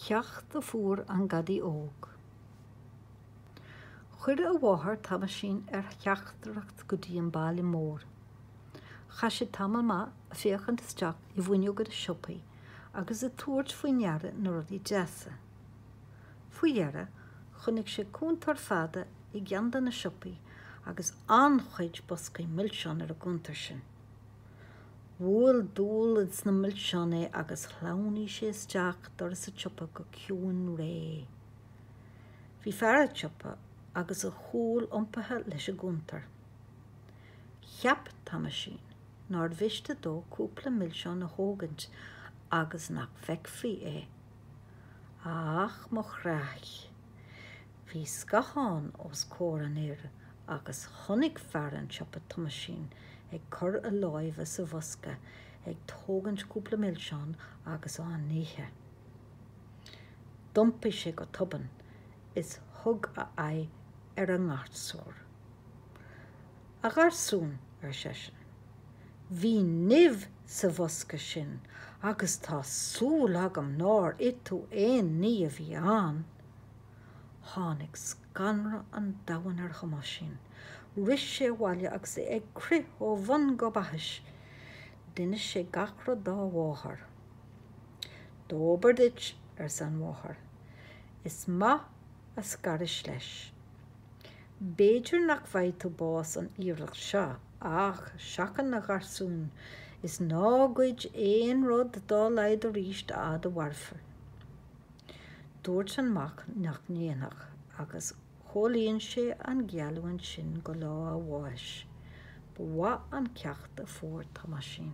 Ceacht a fuair an gadaí óg. Chuir a mháthair Tomáisín ar theachtaireacht go dtí an baile mór. Chaith sé tamall maith a féachaint isteach i bhfuinneoga na siopaí agus a tabhairt faoi ndeara na rudaí deasa. Faoi dheireadh chonaic sé cuntar fada i gceann de na siopaí agus an-chuid boscaí milseán ar an gcuntar sin. Bhuail dúil sna milseáin é agus shleamhnaigh sé isteach doras a tsiopa go ciúin réidh. Bhí fear a' tsiopa agus a chúl iompaithe leis an gcuntar. Cheap Tomáisín nár mhiste dó cúpla milseán a thógaint agus nach bhfeicfí é. Ach mo chreach! Bhí scathán os comhair an fhir agus chonaic fear an tsiopa Tomáisín ag cur a láimhe sa bhosca ag tógaint cúpla milseán agus á n-ithe. D'iompaigh sé go tobann is thug a aghaidh ar an ngarsún. A gharsúin, ar seisean, bhí nimh sa bhosca sin agus tá súil agam nár ith tú aon ní a bhí ann! Tháinig scanradh an domhain ar Thomáisín. Rith sé abhaile agus é ag crith ó bhun go baithis. D'inis sé gach rud dá mháthair. Dóbair duit, arsa an mháthair. Is maith a scarais leis. B'fhéidir nach bhfaighe tú bás an iarracht seo, ach seachain a gharsúin is ná goid aon rud dá laghad aríst a fhad a mhairfir. Dúirt an mac nach ndéanfadh agus chomhlíon sé an gheallúint sin go lá a bháis. Ba mhaith an ceacht a fuair Tomáisín.